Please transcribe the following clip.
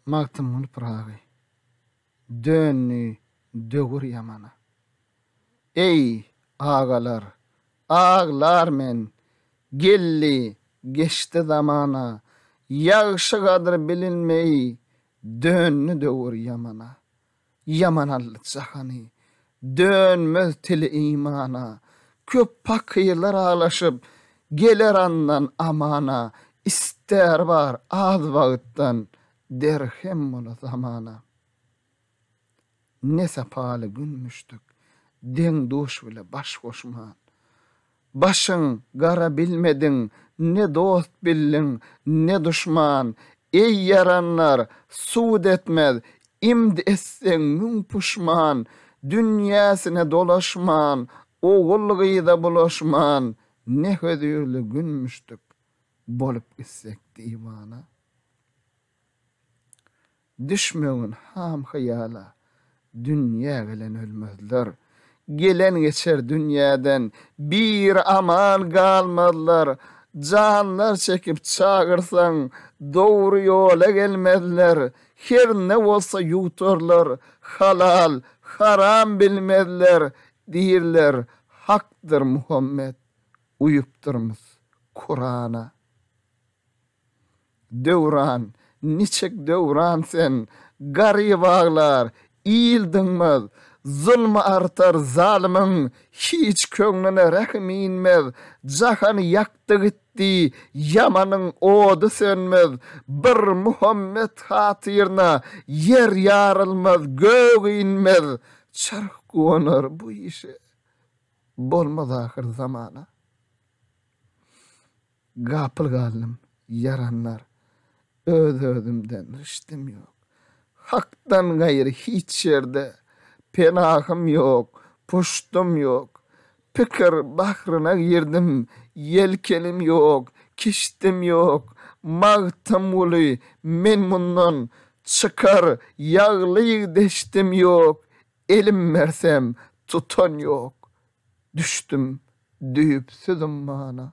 Magtymguly Pyragy. Döndi döwür ýamana. Eý, agalar, aglar men, Geldi, geçdi zamana, Ýagşy gadyr bilinmeý, Döndi döwür ýamana. Ýaman aldy jahany, dönmez tili imana, Köp pakyrlar aglaşyp, geler andan amana, Ister bar az wagtdan, derhem bola zamana. Ne sapaly gün müşdük, deň-duş bile baş goşman, Başyň gara bilmediň, ne dost bildiň, ne duşman. Eý, ýaranlar, sud etmez, imd etseň müň puşman. Dünýäsine dolaşman, ogul-gyza bulaşman, ne hözirli günmüşdik, bolup gitsek diwana. Düşmegin ham-hyýala, dünýä gelen ölmezler, gelen geçer dünýäden bir aman galmazlar, janlar çekip çagyrsaň, dogry ýola gelmezler, herne bolsa ýuwtarlar, halal, haram bilmezler, diýirler, Hakdyr Muhammet, uýupdyrmys Kurana. Döwran, niçik Döwran sen, Garyp aglar, il dyňmaz, Zulmy artar zalymyň, Hiç köňlüne rähim inmez, Jahany ýakdy gitdi, Ýamanyň ody sönmez, Bir Muhammet hatyryna, Ýer ýarylmaz, gök inmez, Çarh guwanar bu işe, Bolmaz ahyr zamana. Gapyl galdym, ýaranlar. Öz-özümden rişdim ýok. Hakdan gaýry hiç ýerde penahym ýok, puştum ýok. Pikir bahryna girdim, ýelkenim ýok, kiştim ýok. Magtymguly, men mundan çykar ýaglyk deşdim ýok. Elim bersem, tutan ýok. Düşdüm düýpsüz ummana.